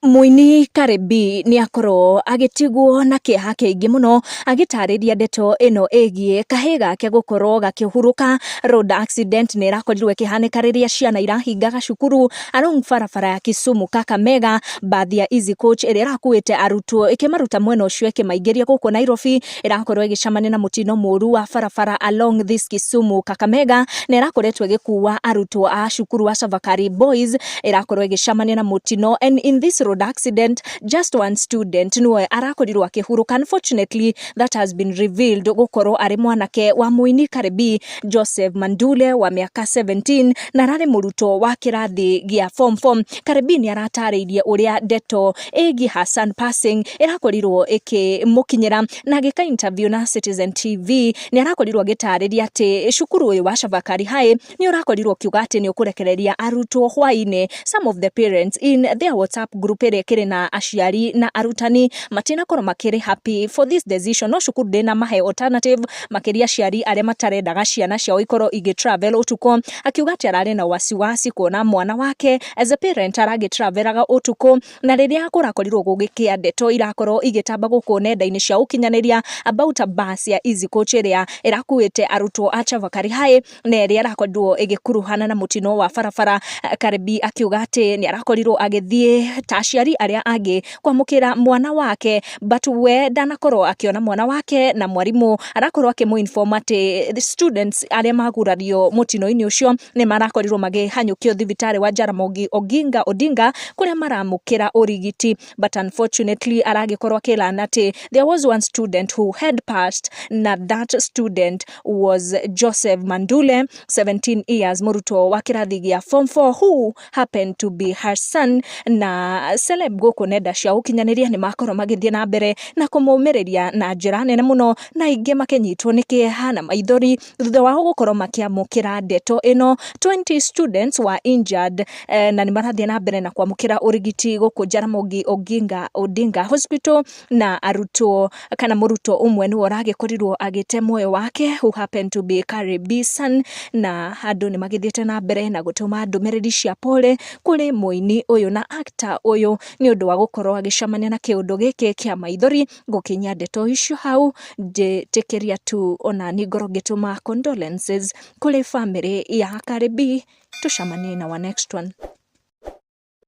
Mũini Cardi B nĩ akorwo agĩtigwo na kĩeha kĩingĩ mũno agĩtarĩria ndeto ĩno ĩgiĩ kahĩĩ gake gũkorwo gakĩhurũka. Road accident nĩ ĩrakorirwo ĩkĩhanĩka rĩrĩa ciana irahingaga cukuru along barabara ya Kisumu Kakamega. Mbathi ya Easy Coach ĩrĩa ĩrakuĩte arutwo ĩkĩmaruta mwena ũcio ĩkĩmaingĩria gũkũ Nairobi. ĩrakorwo ĩgĩcamania na mũtino mũru wa barabara along this Kisumu Kakamega na ĩrakoretwo ĩgĩkua arutwo a cukuru wa Chavakari Boys ĩrakorwo ĩgĩcamania na mũtino and in this road accident just one student nĩwe arakorirwo akĩhurũka unfortunately that has been revealed gũkorwo arĩ mwanake wa mũini Karebi Joseph Mandule wa mĩaka 17 na ararĩ mũrutwo wa kĩrathi gĩa form 4 Karebi nĩ aratarĩirie ũrĩa ndeto Ĩgi Hassan Passing ĩrakorirwo ĩkĩmũkinyĩra na agĩka interview na Citizen TV nĩ arakorirwo agĩtarĩria atĩ cukuru ũyũ wa Chavakari High nĩ ũrakorirwo ũkiuga atĩ nĩ ũkũrekereria arutwo hwainĩ some of the parents in their WhatsApp group ĩrĩa ĩkĩrĩ na aciari na arutani matinakorwo makĩrĩ happy for this decision no cukuru ndĩnamahe alternative makĩria aciari arĩa matarendaga ciana ciao ikorwo igĩ travel ũtukũ akiuga atĩ ararĩ na wasiwasi kuona mwana wake As a parent aragĩ travelaga ũtukũ na rĩrĩa kũrakorirwo gũgĩkĩa ndeto irakorwo igĩtamba gũkũ nenda-inĩ cia ũkinyanĩria about bus ya Easy Coach ĩrĩa ĩrakuĩte arutwo a Chavakali High na ĩrĩa ĩrakorirwo ĩgĩkuruhana na mũtino wa barabara. Karebi akiuga atĩ nĩ arakorirwo agĩthiĩ ta aciari arĩa angĩ kwamũkĩra mwana wake but we ndanakorwo akĩona mwana wake na mwarimũ arakorwo akĩmũ inform atĩ students arĩa magurario mũtino-inĩ ũcio nĩ marakorirwo makĩhanyũkio thibitarĩ wa Jaramogi Oginga Odinga kũrĩa maramũkĩra ũrigiti but unfortunately aragĩkorwo akĩrana atĩ there was one student who had passed na that student was Joseph Mandule 17 years mũrutwo wa kĩrathi gĩa form 4 who happened to be her son na celeb gũkũ nenda cia ũkinyanĩria nĩ makorwo magĩthiĩ na mbere na kũmũmĩrĩria na njĩra nene mũno na aingĩ makĩnyitwo nĩ kĩeha na maithori thutha wao gũkorwo makĩamũkĩra ndeto ĩno, twenty students were injured eh, na nĩ marathiĩ na mbere na kwamũkĩra ũrigiti gũkũ Jaramogi Oginga Odinga Hospital na arutwo kana mũrutwo ũmwe nĩwe ũragĩkorirwo agĩte muoyo wake who happened to be Kari Bisan na andũ nĩ magĩthiĩte na mbere na gũtũma ndũmĩrĩri cia pole kũrĩ mũini ũyũ na actor ũyũ nĩ ũndũ wa gũkorwo agĩcemania na kĩũndũ gĩkĩ kĩa maithori gũkinyia ndeto icio hau njĩtĩkĩria tu onani ngorwo ngĩtũma condolences kũrĩ bamĩrĩ ya Cardi B. Tũcemanie in our next one.